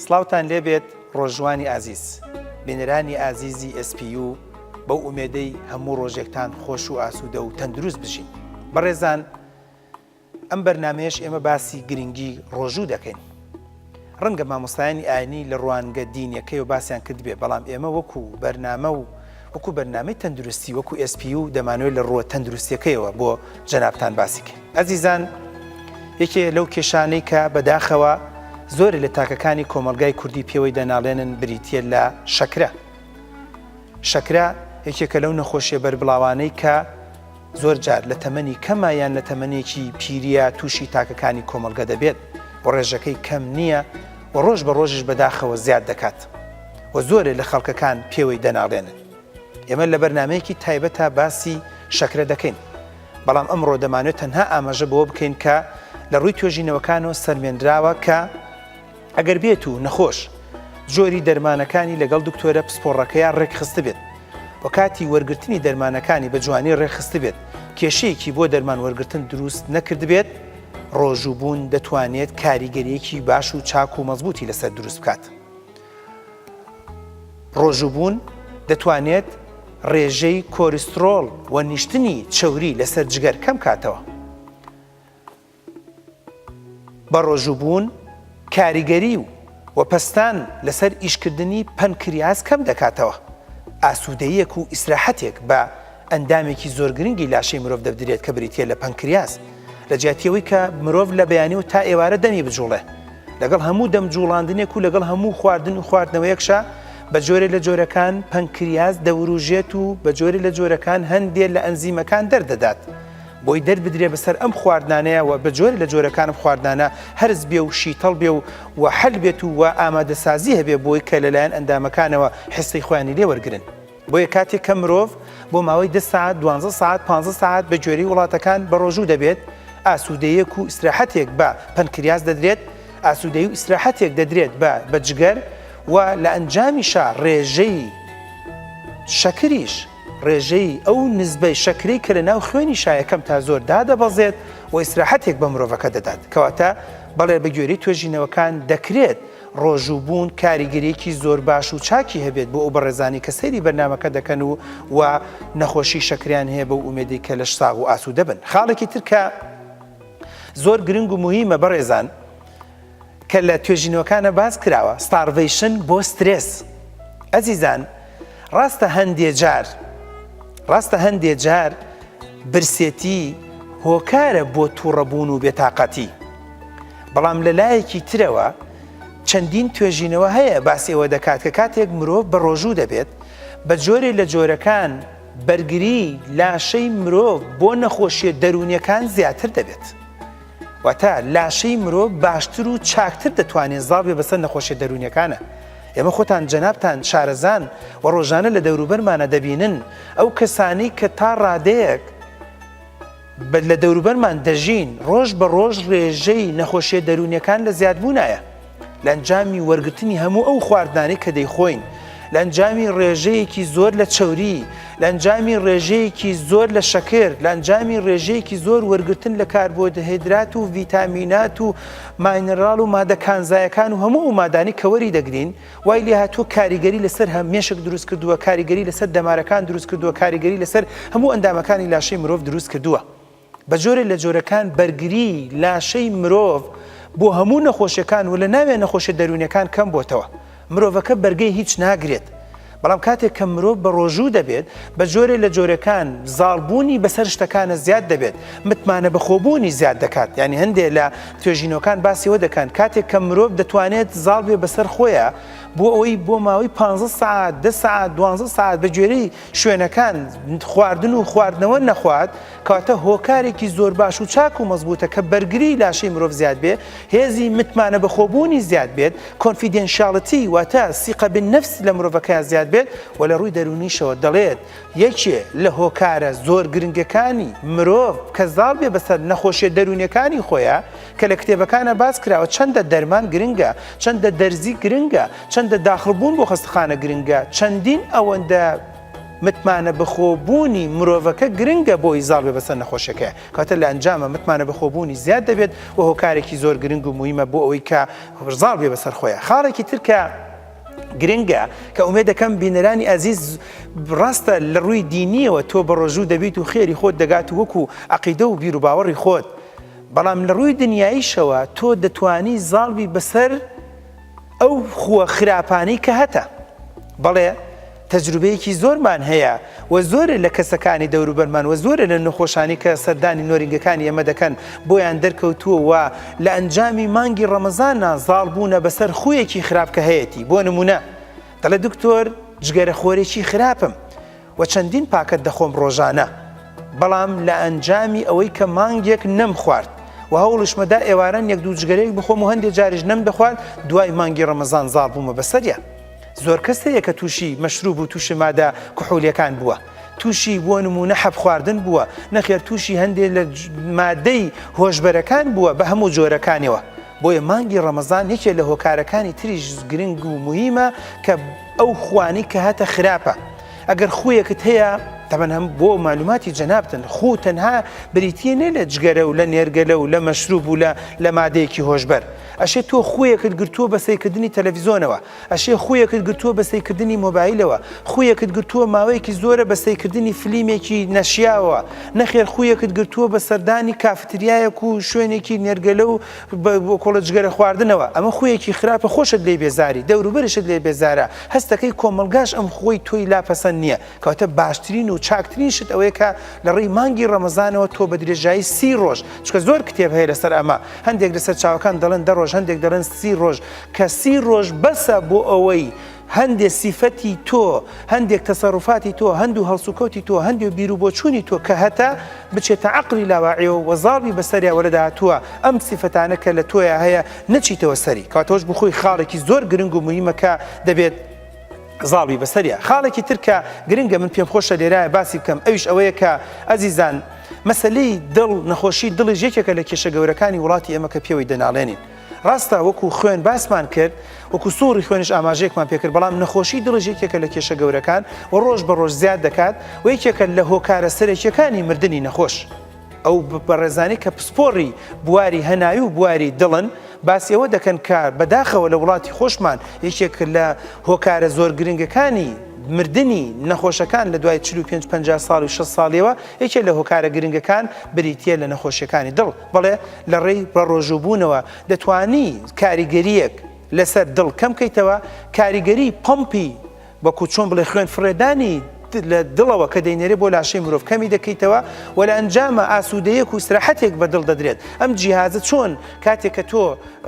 سلااوان لێبێت ڕۆژوانی ئازیز بینەرانی ئازیزی SPU بەو ئومێدەی هەموو ڕۆژێکتان خۆش و ئاسوودە و تەندروست بژین بەڕێزان ئەم بەرنامەیەش ئێمە باسی گرنگی ڕۆژوو دەکەین. ڕەنگە مامۆستایانی ئاینی لە ڕوانگە دینیەکەیەوە باسیان کردبێ بەڵام ئێمە وەکو بەرنامە و وەکو بەرنامەی تەندروستی وەکو SPU دەمانەوێت لە ڕووە تەندروستیەکەیەوە بۆ جەنابتان باسی کەین. ئەزیزان یەکێ لەو کێشانەی کە بەداخەوە زۆرێ لە تاکەکانی کۆمەڵگای کوردی پێوەی دەناڵێنن بریتیە لە شەکرە. شەکرە یەکێکە لەو نەخۆشیە بەربڵاوانەی کە زۆر جار لە تەمەنی کەما یان لە تەمەنێکی پیرییە تووشی تاکەکانی کۆمەڵگە دەبێت و ڕێژەکەی کەم نییە و ڕۆژ بە ڕۆژیش بەداخەوە زیاد دەکات و زۆرێ لە خەڵکەکان پێوەی دەناڵێنن. ئێمە لە بەرنامەیەکی تایبەتا باسی شەکرە دەکەین، بەڵام ئەمڕۆ دەمانوێت تەنها ئاماژە بەوە بکەین کە لە ڕووی توێژینەوەکانەوە سەلمێنراوە کە، ئەگەر بێت و نەخۆش جۆری دەرمانەکانی لەگەڵ دکتۆرە پسپۆڕەکەیا ڕێکخستبێت و کاتی وەرگرتنی دەرمانەکانی بە جوانی ڕێکخستبێت کێشەیەکی بۆ دەرمان وەرگرتن دروست نەکردبێت، ڕۆژووبوون دەتوانێت کاریگەریەکی باش و چاک و مەزبوتی لەسەر دروست بکات. ڕۆژووبوون دەتوانێت ڕێژەی کۆریسترۆڵ و نیشتنی چەوری لەسەر جگەر کەم کاتەوە. بەڕۆژووبوون کاریگەری و و پەستان لەسەر ئیشکردنی پەنکریاس کەم دەکاتەوە، ئاسوودەییەک و ئیسراحەتێک بە ئەندامێکی زۆر گرنگی لاشەی مرۆڤ دەبدرێت کە بریتییە لە پەنکریاس، لە جیاتی ئەوەی کە مرۆڤ لە بەیانی و تا ئێوارە دەمی بجوڵێ لەگەڵ هەموو دەم جوڵاندنێک و لەگەڵ هەموو خواردن و خواردنەوەیەکشا بە جۆرێ لە جۆرەکان پەنکریاس دەوروژێت و بە جۆرێ لە جۆرەکان هەندێ لە ئەنزیمەکان دەردەدات بۆی دەربدرێ بەسەر ئەم خواردنانەیە و بە جۆرێ لە جۆرەکان ئەم خواردنانە هەرس بێ و شیتەڵ بێ و و حەل بێت و و ئامادەسازی هەبێ بۆی کە لەلایەن ئەندامەکانەوە حسی خۆیانی لێ وەرگرن. بۆیە کاتێک کە مرۆڤ بۆ ماوەی دە سەعات، دوانزە سەعات، پانزە سەعات بە گوێرەی وڵاتەکان بەڕۆژوو دەبێت، ئاسوودەیەک و ئیسراحەتێک بە پەنکریاس دەدرێت، ئاسوودەی و ئیسراحەتێک دەدرێت بە بە جگەر و لە ئەنجامیشا ڕێژەی شەکریش. ڕێژەی ئەو نسبەی شەکرەی کە لە ناو خوێنی شایە کەم تا زۆر دادەبەزێت و ئیسراحەتێک بە مرۆڤەکە دەدات. کەواتە بەڵێ بە گوێرەی توێژینەوەکان دەکرێت ڕۆژووبوون کاریگەریەکی زۆر باش و چاکی هەبێت بۆ ئەو بەڕێزانەی کە سەیری بەرنامەکە دەکەن و و نەخۆشی شەکرەیان هەیە بەو ئومێدەی کە لەش ساغ و ئاسوودە بن. خاڵێکی تر کە زۆر گرنگ و موهیمە بەڕێزان، کە لە توێژینەوەکانا باس کراوە ستاڕڤەیشن بۆ سترێس ئەزیزان ڕاستە هەندێ جار ڕاستە هەندێ جار برسێتی هۆکارە بۆ توڕەبوون و بێتاقەتی بەڵام لە لایەکی ترەوە چەندین توێژینەوە هەیە باسی ئەوە دەکات کە کاتێک مرۆڤ بە ڕۆژوو دەبێت بە جۆرێ لە جۆرەکان بەرگری لاشەی مرۆڤ بۆ نەخۆشیە دەروونیەکان زیاتر دەبێت. واتە لاشەی مرۆڤ باشتر و چاکتر دەتوانێت زاڵ بێ بەسەر نەخۆشیە دەرونیەکانە. ئێمە خۆتان جەنابتان شارەزان و ڕۆژانە لە دەوروبەرمانە دەبینن ئەو کەسانەی کە تا ڕادەیەک لە دەوروبەرمان دەژین ڕۆژ بە ڕۆژ ڕێژەی نەخۆشیە دەرونیەکان لە زیادبوونایە. لە ئەنجامی وەرگرتنی هەموو ئەو خواردنانەی کە دەیخۆین، لە ئەنجامی ڕێژەیەکی زۆر لە چەوری، لە ئەنجامی ڕێژەیەکی زۆر لە شەکر، لە ئەنجامی ڕێژەیەکی زۆر وەرگرتن لە کاربۆدهێدرات و ڤیتامینات و ماینراڵ و مادە کانزایەکان و هەموو ئەو مادانەی کە وەری دەگرین، وای لێهاتووە کاریگەری لەسەر هه مێشک دروست کردووە، کاریگەری لەسەر دەمارەکان دروست کردووە، کاریگەری لەسەر هەموو ئەندامەکانی لاشەی مرۆڤ دروست کردووە. بە جۆرێ لە جۆرەکان بەرگری لاشەی مرۆڤ بۆ هەموو نەخۆشیەکان و لە ناویان نەخۆشیە دەروونیەکان کەم بۆتەوە. مرۆڤەکە بەرگەی هیچ ناگرێت. بەڵام کاتێک کە مرۆڤ بە ڕۆژوو دەبێت، بە جۆرێ لە جۆرەکان زاڵ بوونی بەسەر شتەکانە زیاد دەبێت. متمانە بەخۆ بوونی زیاد دەکات. یانی هەندێ لە توێژینەوەکان باسی ئەوە دەکەن کاتێک کە مرۆڤ دەتوانێت زاڵ بێ بەسەر خۆیا بۆ ئەوەی بۆ ماوەی پانزە سەعات، دە سەعات، دوانزە سەعات بە گوێرەی شوێنەکان خواردن و خواردنەوە نەخوات کەواتە هۆکارێکی زۆر باش و چاک و مەزبوطە کە بەرگری لاشەی مرۆڤ زیاد بێ هێزی متمانە بەخۆبوونی زیاد بێت کۆنفیدێنشالەتی واتە سیقەبن نفس لە مرۆڤەکە زیاد بێت و لە ڕووی دەرونیشەوە دەڵێت یەکێ لە هۆکارە زۆر گرنگەکانی مرۆڤ کە زاڵ بێ بەسەر نەخۆشیە دەروونەکانی خۆیە کە لە کتێبەکانا باس کراوە چەندە دەرمان گرنگە، چەندە دەرزی گرنگە، چەندە داخڵبوون بۆ خەستەخانە گرنگە، چەندین ئەوەندە متمانە بەخۆ بوونی مرۆڤەکە گرنگە بۆی زاڵ بێ بەسەر نەخۆشەکەیا، کەواتە لە ئەنجاما متمانە بەخۆ بوونی زیاد دەبێت و هۆکارێکی زۆر گرنگ و مویمە بۆ ئەوەی کە زاڵ بێ بەسەر خۆیا. خاڵێکی تر کە گرنگە کە ئومێدەکەم بینەرانی ئازیز ڕاستە لە ڕووی دینیەوە تۆ بەڕۆژوو دەبیت و خێری خۆت دەگات و وەکو عەقیدە و بیروباوەڕی خۆت، بەڵام لە ڕووی دنیاییشەوە تۆ دەتوانی زاڵ بی بەسەر ئەو خووە خراپانەی کە هەتە. بەڵێ تەجروبەیەکی زۆرمان هەیە و زۆرێ لە کەسەکانی دەوروبەرمان و زۆرێ لە نەخۆشانی کە سەردانی نۆرینگەکانی ئێمە دەکەن بۆیان دەرکەوتووە و لە ئەنجامی مانگی ڕەمەزاننا زاڵ بوونە بەسەر خوویەکی خراپ کە هەیەتی بۆ نموونە دەڵێ دکتۆر جگەرەخۆرێکی خراپم و چەندین پاکەت دەخۆم ڕۆژانە بەڵام لە ئەنجامی ئەوەی کە مانگێک نەم خوارد و هەوڵیشمە دا ئێواران یەک دوو جگەرەیەک بخۆم و هەندێ جاریش نەم دەخوارد دوای مانگی ڕەمەزان زاڵ بوومە بەسەریا زۆر کەس هەیە کە تووشی مەشروب و تووشی مادە کحولیەکان بووە تووشی بۆ نمونە حەب خواردن بووە نەخێر تووشی هەندێک لە مادەی هۆشبەرەکان بووە بە هەموو جۆرەکانیەوە بۆیە مانگی ڕەمەزان یەکێ لە هۆکارەکانی تریش گرنگ و موهیمە کە ئەو خوانی کە هاتە خراپە ئەگەر خویەکت هەیە تەبەن هەم بۆ معلوماتی جەنابتن خو تەنها بریتە نێ لە جگەرە و لە نێرگەلە و لە مەشروب و لە لە مادەیەکی هۆشبەر ئەشێ تۆ خویەکت گرتووە بەسەیکردنی تەلەڤزیۆنەوە ئەشێ خوویەکت گرتووە بە سەیکردنی مۆبایلەوە، خوویەکت گرتووە ماوەیەکی زۆرە بە سەیکردنی فلیمێکی نەشیاوەوە، نەخێر خوویەکت گرتووە بە سەردانی کافتریایەک و شوێنێکی نێرگەلە و بۆکۆڵە جگەرە خواردنەوە، ئەمە خوویەکی خراپە خۆشت لێی بێزاری، دەوروبەرشت لێ بێزارە، هەستەکەی کۆمەڵگاش ئەم خووەی تۆی لا پەسەند نییە، کەواتە باشترین و چاکترین شت ئەوەیە کە لە ڕێی مانگی ڕەمەزانەوە تۆ بە درێژایی سی ڕۆژ چکە زۆر کتێب هەیە لەسەر ئەمە هەندێک لەسەر چاوەکان دەڵێن دە ڕۆژ هەندێک دەڵێن سی ڕۆژ کە سی ڕۆژ بەسە بۆ ئەوەی هەندێ سیفەتی تۆ هەندێک تەسەڕفاتی تۆ هەندوو هەڵسوکەوتی تۆ هەندێ بیر و بۆچوونی تۆ کە هەتا بچێتە عقلی لاواعێ و وەزاڵبی بەسەریا وەرە داهاتووە ئەم سیفەتانە کە لە تۆیا هەیە نەچیتەوە سەری کاتۆش بخۆی خاڵێکی زۆر گرنگ و مهمەکە دەبێت زاڵ بی بەسەریا. خاڵێکی تر کە گرنگە من پێم خۆشە لێرایە باسی بکەم ئەویش ئەوەیە کە ئەزیزان مەسەلەی دڵ نەخۆشی دڵیش یەکێکە لە کێشە گەورەکانی وڵاتی ئێمە کە پێوەی دەناڵێنین. ڕاستە وەکو خوێن باسمان کرد وەکو سوڕی خوێنش ئاماژەیەکمان پێکرد بەڵام نەخۆشی دڵیش یەکێکە لە کێشە گەورەکان و ڕۆژ بە ڕۆژ زیاد دەکات و یەکێکە لە هۆکارە سەرەکیەکانی مردنی نەخۆش. ئەو بەڕێزانەی کە پسپۆڕی بواری هەناوی و بواری دڵن، باسی ئەوە دەکەن کە بەداخەوە لە وڵاتی خۆشمان یەکێک لە هۆکارە زۆر گرنگەکانی مردنی نەخۆشەکان لە دوای چل و پێنج پەنجا ساڵ و شەست ساڵیەوە یەکێ لە هۆکارە گرنگەکان بریتیە لە نەخۆشیەکانی دڵ بەڵێ لە ڕێی بەڕۆژووبوونەوە دەتوانی کاریگەریەک لەسەر دڵ کەم کەیتەوە کاریگەری پەمپی وەکو چۆن بڵێ خوێن فڕێدانی لە دڵەوە کە دەینێرێ بۆ لاشەی مرۆڤ کەمی دەکەیتەوە و لە ئەنجامە ئاسوودەیەک و سرحەتێک بە دڵ دەدرێت ئەم جیهازە چۆن کاتێک کە تۆ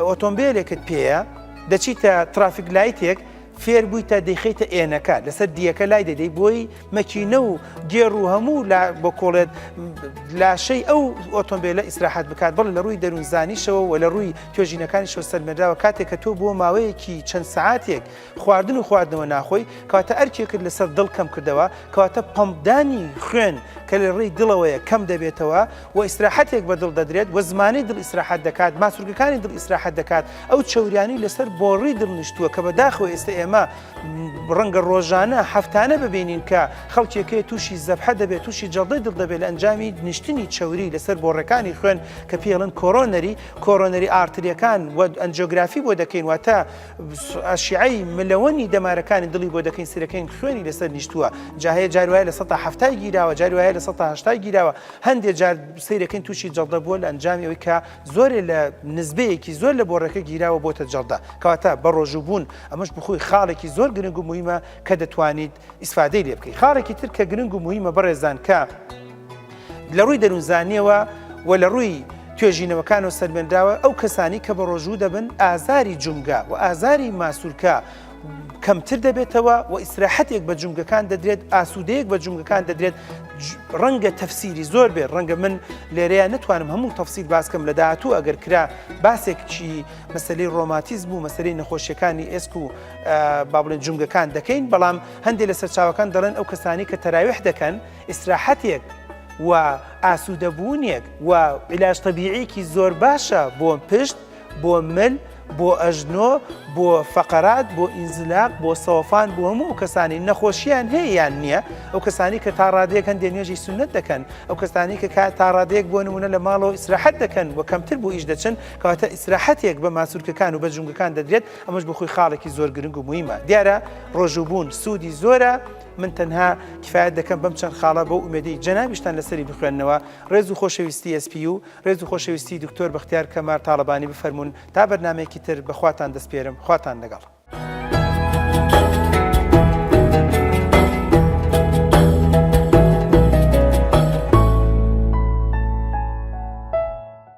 ئۆتۆمبیلێکت پێەیە دەچیتە ترافیک لایتێک فێر بوویتە دەیخیتە ئێنەکە لەسەر دیەکە لای دەدەی بۆی مەکینە و گێڕ و هەموو بە کۆڵێت لاشەی ئەو ئۆتۆمبیلە ئیسراحەت بکات بڵ لە ڕووی دەروونزانیشەوە و لە ڕووی توێژینەکانیشەوە سەلمێراوە کاتێک کە تۆ بۆ ماوەیەکی چەند سعاتێک خواردن و خواردنەوە ناخۆی کەواتە ئەرکێکت لەسەر دڵ کەم کردەوە کەواتە پەمپدانی خوێن کە لە ڕێی دڵەوەیە کەم دەبێتەوە و ئیسراحەتێک بە دڵ دەدرێت و زمانەی دڵ ئیسراحەت دەکات ماسولکەکانی دڵ ئیسراحەت دەکات ئەو چەوریانی لەسەر بۆڕی دڵ نیشتووە کە بەداخەوە ئێستا ئێمە ڕەنگە ڕۆژانە هەفتانە ببینین کە خەڵکێکەیە تووشی زەبحە دەبێت تووشی جەڵدەی دڵ دەبێت لە ئەنجامی نیشتنی چەوری لەسەر بۆڕەکانی خوێن کە پێڵن کۆرۆنەری کۆرۆنەری ئارتریەکان و ئەنجۆگرافی بۆ دەکەین واتە ئەشیعەی ملەوەنی دەمارەکانی دڵی بۆ دەکەین سرەکەین خوێنی لەسەر نیشتووە جا هەیە جار وایە لە سەدا هەفتای گیراوە جار وایە لە سەدا هەشتای گیراوە هەندێک جار سیرەکەین تووشی جەڵدە بووە لە ئەنجامی ئەوی کە زۆرێ لە نزبەیەکی زۆر لە بۆڕەکە گیراوە بۆتە جەڵدە کەواتە بە ڕۆژوو بوون ئەمەش بخۆی خاڵێکی زۆر گرنگ و مهمە کە دەتوانیت ئیسفادەی لێ بکەی خاڵێکی تر کە گرنگ و موهیمە بەڕێزان کە لە ڕووی دەروونزانیەوە و لە ڕووی توێژینەوەکان و سەلمێنراوە ئەو کەسانی کە بە ڕۆژوو دەبن ئازاری جومگە و ئازاری ماسوولکە کەمتر دەبێتەوە و ئیسراحەتێک بە جومگەکان دەدرێت ئاسوودەیەک بە جومگەکان دەدرێت ڕەنگە تەفسیری زۆر بێت ڕەنگە من لێرەیە نتوانم هەموو تەفسیل باسکەم لە داهاتوو ئەگەر کرا باسێکچی مەسلەی ڕۆماتیزم و مەسلەی نەخۆشیەکانی ئێسک و با بڵێن جومگەکان دەکەین بەڵام هەندێک لە سەرچاوەکان دەڵێن ئەو کەسانی کە تەراویح دەکەن ئیسراحەتێک و ئاسوودەبوونێک و عیلاج تەبیعیکی زۆر باشە بۆ پشت بۆ مل بۆ ئەژنۆ بۆ فەقەرات بۆ ئینزلاق بۆ سەوفان بۆ هەموو ئەو کەسانی نەخۆشییان هەیەیان نییە ئەو کەسانی کە تا ڕادێک هەندێ نوێژی سنت دەکەن ئەو کەسانی کە کا تا ڕادێک بۆ نمونە لە ماڵەوە ئیسراحەت دەکەن و کەمتر بۆ ئیش دەچن کەواتە ئیسراحەتێک بە ماسوولکەکان و بە جونگەکان دەدرێت ئەمەش بۆ خۆی خاڵێکی زۆر گرنگ و مویمە دیارە ڕۆژوبوون سوودی زۆرە من تەنها کفاەت دەکەم بەم چەند خاڵە بۆ ئومێدەی جەنابیشتان لەسەری بخوێندنەوە ڕێز و خۆشەویستی ئەسپی و ڕێز و خۆشەویستی دکتۆر بەختیار کەمار تاالبانی بفەرمونون تا بەرنمەیەکی تر بەخواتان دەستپێرم خواتان لەگەڵ.